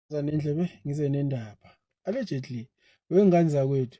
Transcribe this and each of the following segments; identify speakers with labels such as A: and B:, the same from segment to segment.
A: zanendlebe ngize nendaba allegedly wengane zakwethu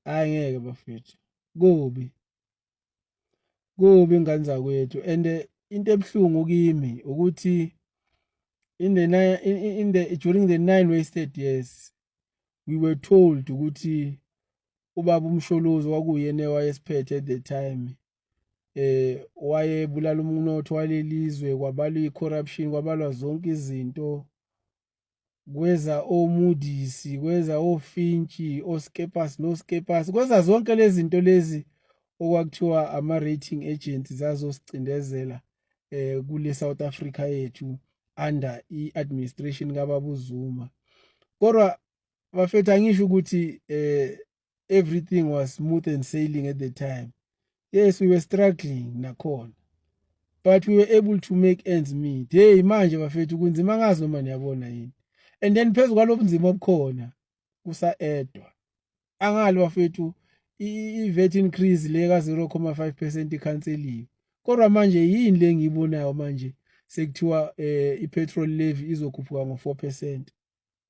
A: hayi ngeke bafethu kubi kubi ingane zakwethu and eh, into ebuhlungu kimi ukuthi in the nine, in, in the during the nine wasted years we were told ukuthi ubaba umsholozi wakuyena ewayesiphethe at the time eh wayebulala umnotho walelizwe kwabalwa icorruption kwabalwa zonke izinto kweza omudisi kweza ofintshi oskepas noskepas kweza zonke lezi zinto lezi okwakuthiwa ama-rating agents zazosicindezela eh kule South Africa yethu under i-administration kababuzuma kodwa bafethu angisho ukuthi eh everything was smooth and sailing at the time yes we were struggling nakhona but we were able to make ends meet hey manje bafethu kunzima ngazi noma niyabona yini and then phezu kwalobunzima obukhona kusaedwa angali bafethu i-vet increase le ka-0,5 percent ikhanseliwe kodwa manje yini le ngiyibonayo manje sekuthiwa um eh, i-petrol levy izokhuphuka ngo-4 percent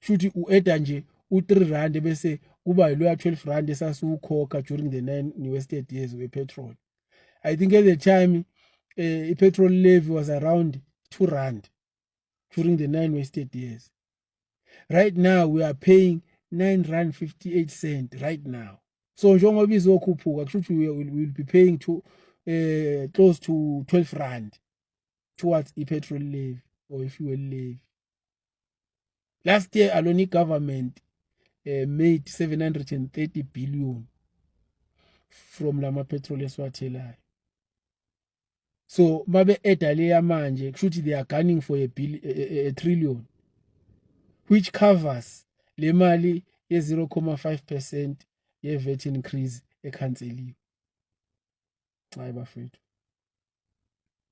A: shuthi ueda nje u3 rand bese kuba yiloya 12 rand esasiwukhokha during the 9 new estate years we petrol i think at the time eh, i-petrol levy was around 2 rand during the 9 wasted years right now we are paying 9 rand 58 cent right now so njengoba izokhuphuka kusho ukuthi we will be paying to eh close to 12 rand towards i-petrol levy or i-fuel levy last year alone i-government uh, made 730 billion from la ma-petrol esiwathelayo so babe eda leya manje kushuthi they are gunning for a, bill, a, a, a trillion which covers le mali ye-0,5 percent ye-vet increase ekhanseliwe hayi bafethu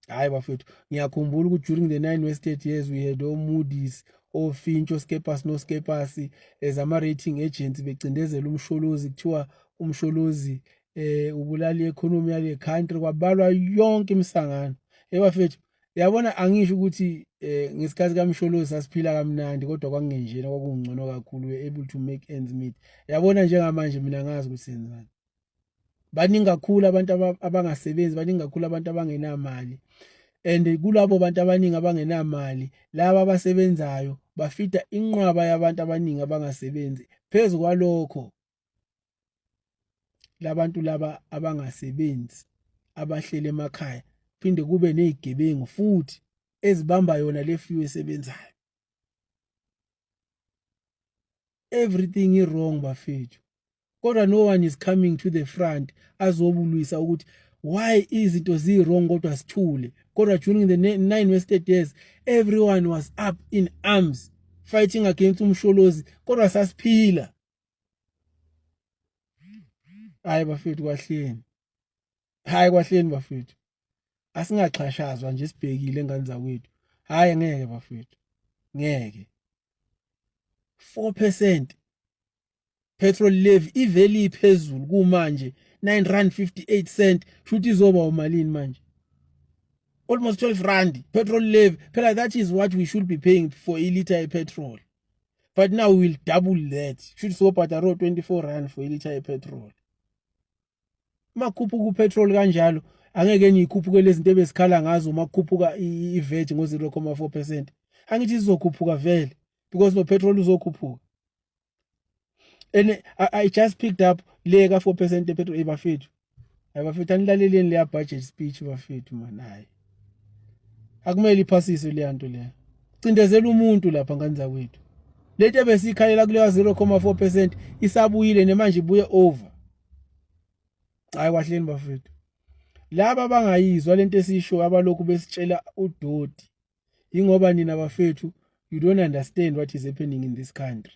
A: hayi bafethu ngiyakhumbula ukuthi during the nine wasted years we had omoodis ofinch oskepas noskepas as ama-rating agents becindezela umsholozi kuthiwa umsholozi eh ubulala i-economy yale country kwabalwa yonke imisangano ebafethu yabona angisho ukuthi eh ngesikhathi kamsholozi sasiphila kamnandi kodwa kwakungenjena kwakungcono kakhulu we able to make ends meet yabona njengamanje mina ngazi ukuthi senzani baningi kakhulu abantu abangasebenzi baningi kakhulu abantu abangenamali and kulabo bantu abaningi abangenamali laba abasebenzayo bafida inqwaba yabantu abaningi abangasebenzi phezu kwalokho labantu laba abangasebenzi abahlele emakhaya phinde kube nezigebengu futhi ezibamba yona le few esebenzayo everything is wrong bafethu kodwa no one is coming to the front azobulwisa ukuthi why izinto zi-wrong kodwa sithule kodwa during the nine wasted years everyone was up in arms fighting against umsholozi kodwa sasiphila hayi bafethu kwahleni hayi kwahleni bafethu asingaxhashazwa nje sibhekile engane zakwethu hayi ngeke bafethu ngeke 4% petrol levy ivele iphezulu kumanje 9 rand 58 cent shuthi izoba umalini manje almost 12 rand petrol levy phela that is what we should be paying for a liter petrol but now we will double that shuthi sobhadaro 24 rand for a liter petrol makhuphuka upetrol kanjalo angeke niyikhuphuke lezinto ebesikhala ngazo makhuphuka ivet ngo 0.4% angithi sizokhuphuka vele because no petrol uzokhuphuka and I, i just picked up le ka 4% epetrol ebafethu hayi bafethu anilaleleni leya budget speech bafethu mani hayi akumele iphasiswe leya nto leya cindezela umuntu lapha ngani zakwethu lento ebesikhalela kuleya 0,4 percent isabuyile nemanje ibuye over hayi kwahleni bafethu laba bangayizwa lento esiyishoyo abalokhu besitshela udoti ingoba nina bafethu you don't understand what is happening in this country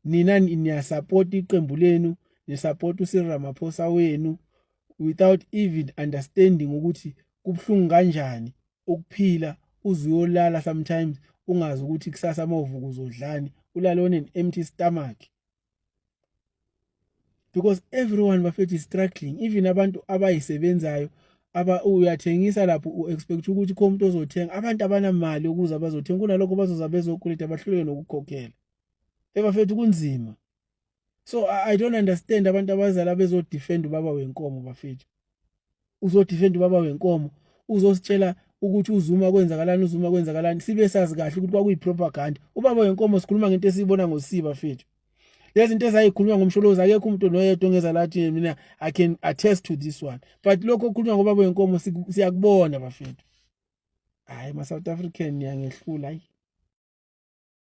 A: nina niyasapota iqembu lenu nisapota uSir Ramaphosa wenu without even understanding ukuthi kubuhlungu kanjani ukuphila uzuyolala sometimes ungazi ukuthi kusasa mawuvuka uzodlani ulale on an empty stomach because everyone bafethu is struggling even abantu abayisebenzayo aba uyathengisa lapho u-expect ukuthi kho umuntu ozothenga abantu abanamali ukuze bazothenga kunalokho bazoza bezokweleta bahluleke nokukhokhela ebafethu kunzima so i don't understand abantu abazala bezodefend ubaba wenkomo bafethu uzodefend ubaba wenkomo uzositshela ukuthi uzuma kwenzakalani uzuma kwenzakalani sibe sazi kahle ukuthi kwakuyi-propaganda ubaba wenkomo sikhuluma ngento esiyibona ngosiba fethu lezi zinto ezayikhulunywa ngomsholozi akekho umuntu noyedwa ongeza lathi mina i can attest to this one but lokho okukhulunywa ngobaba wenkomo siyakubona bafethu hhayi ma-south african niyangehlula ayi